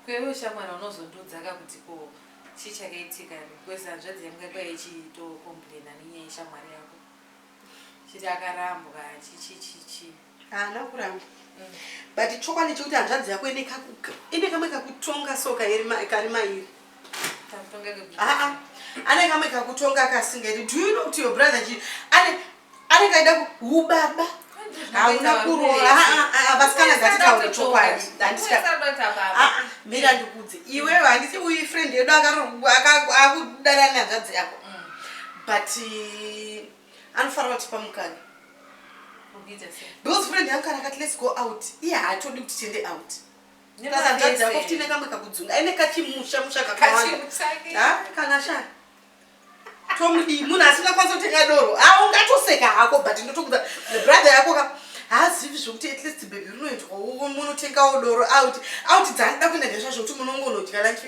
Ko iwe shamwari unozondiudzaka kuti ko chii chakaitika because hanzvadzi yangu yanga ichitocomplaina nenyaya yeshamwari yako chiti akarambwa chichichichi haana kuramba mm. but chokwadi chekuti hanzvadzi yako ine kamwe kakutonga so kari mairi ah, anenge amwe kakutonga kasingeri do you know kuti your brother chi anenge aida ubaba hauna kuroora vasikana ngatitaure chokwadi mira ndikudze iwewe handisi uyu friend yedu akudana nyanzvadzi yako mm. but eh, anofanira kuti pamukana because friend yangu kana kati let's go out iye haatodi kuti tiende out Nehanzvadzi yako futi ine kamwe kakudzunga. Aine kachimusha musha kakawanda. Ha? Kana sha. Tomudi munhu asina kwanisa kutenga doro. Ah ungatoseka hako but ndotokuda brother yako ka haazivi zvokuti at least bhebhi rinoitwa munotengawo doro out out dzandida kuenda ndezva zvokuti munongonodya lunch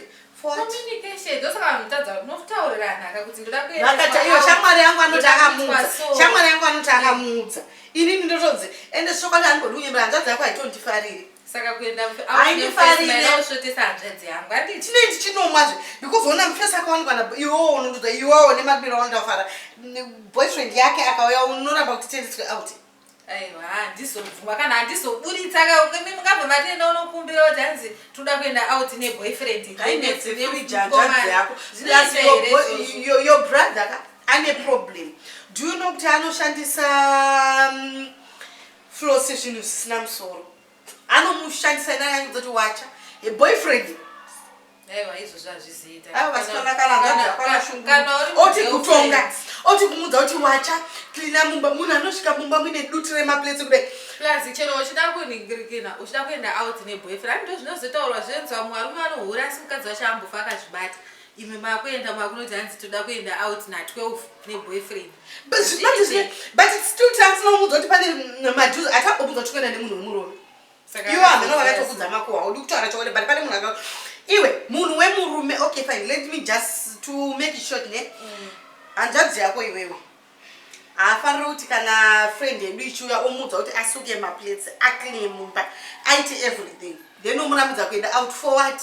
shamwari yangu anoti akamuudza inini ndotonzi ende sokwadi anigodi kunyemera hanzvadzi yako haitondifariri saka kuenda mfeausvotesa hanzvadzi yangu andi chine ndichinomwazve because ona mfesi akawanikwa na iwowo unondoda iwowo nemabiro aundafara boyfriend yake akauya unoramba kuti tiendeswe out aiwa handizobvuma kana handizoburitsa kami mungabva matienda unokumbira kuti hanzi toda kuenda out neboyfriend ndinetsirijanjadziyako your brother ka ane problem do you know kuti anoshandisa um, Flo sezvinhu zvisina musoro. Anomushandisa ina yangu dzoti wacha. He boyfriend. Aiwa izvozvo hazviziita. Aiwa vasikana kana ngana hapana shungu. Kana uri oti kutonga. Oti kumudza kuti wacha cleaner mumba munhu anosvika mumba muine dutu remaplates kudai. Plus chero uchida kuningirikina uchida kuenda out neboyfriend ndozvinozotaurwa zvenzwa mumwe arume anohura asi mukadzi wacho ambofa akazvibata. imwe makuenda makunoti hanzi toda kuenda out na12 neboyfriend but it's still trans nomuudza kuti pane maduz atagobudza kuti kuenda nemunhu wemurume iwo hameno vakatokudza makuwa udi kutaura chokwadi but pane munhu aka iwe munhu wemurume okay fine let me just to make it short ne mm. hanzvadzi yako iwewe haafaniri kuti kana friend yedu ichiuya omuudza kuti asuke maplates aclean mumba aite everything then omurambidza kuenda out for what